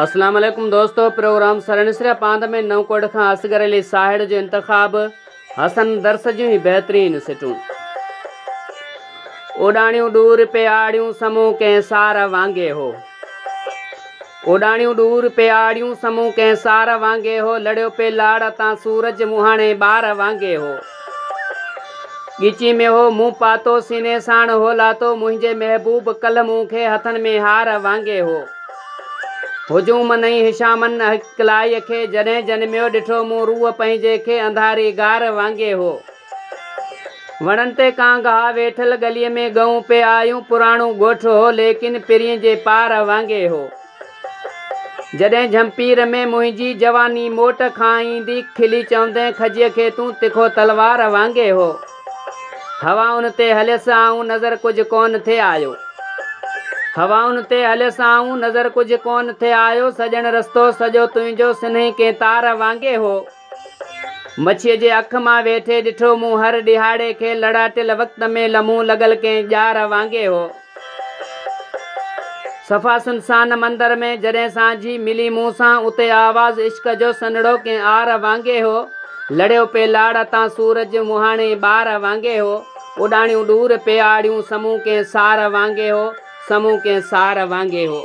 اسلام عليڪم دوستو پروگرام سرنسريا پاند ۾ نئون ڪوٽ کان اصغر علي ساهڙ جو انتخاب حسن درس جون هي بهترين سٽون اوڏاڻيون ڏور پي آڙيون سمو ڪنهن سار وانگي هو اوڏاڻيون ڏور پي آڙيون سمون ڪنهن سار وانگي هو لڙيو پي لاڙ تان سورج مهاڻي ٻار وانگي هو ڳچي ۾ هو مون پاتو سيني ساڻ هو لاتو منهنجي محبوب ڪلهه مون کي هٿن ۾ هار وانگي هو هجوم نئين هشامن اڪلائي کي جڏهن جنميو ڏٺو مون روح پنهنجي کي انڌاري غار وانگي هو. وڻن تي ڪانگ ها، ويٺل ڳليء ۾ ڳئون پئي آيون، پراڻو ڳوٺ هو، ليڪن پرين جي پارهه وانگي هو. جڏهن جهمپير ۾ منهنجي جواني موٽ کان ايندي، کلي چوندين کجيء کي تون تکو تلوار وانگي هو. هوائن تي هليس آئون، نظر ڪجهه ڪونه ٿي آيو. هوائن تي هليس آئون، نظر ڪجهه ڪونه ٿي آيو، سڄڻ رستو سڄو تنهنجو سنهي ڪين تار وانگي هو. مڇيء جي اک مان ويٺي ڏٺو مون هر ڏهاڙي کي لڙاٽيل وقت ۾ لمحون لڳل ڪنهن ڄار وانگي هو. صفا سنسان مندر ۾ جڏهن سانجهي ملي مون سان اتي آواز عشق جو سنهڙو ڪنهن آر وانگي هو. لڙيو پئي لاڙ تان سورج مهاڻي ٻار وانگي هو. اڏاڻيون ڏور پئي آڙيون سمون ڪنهن سار وانگي هو. سمون ڪنهن سار وانگي هو.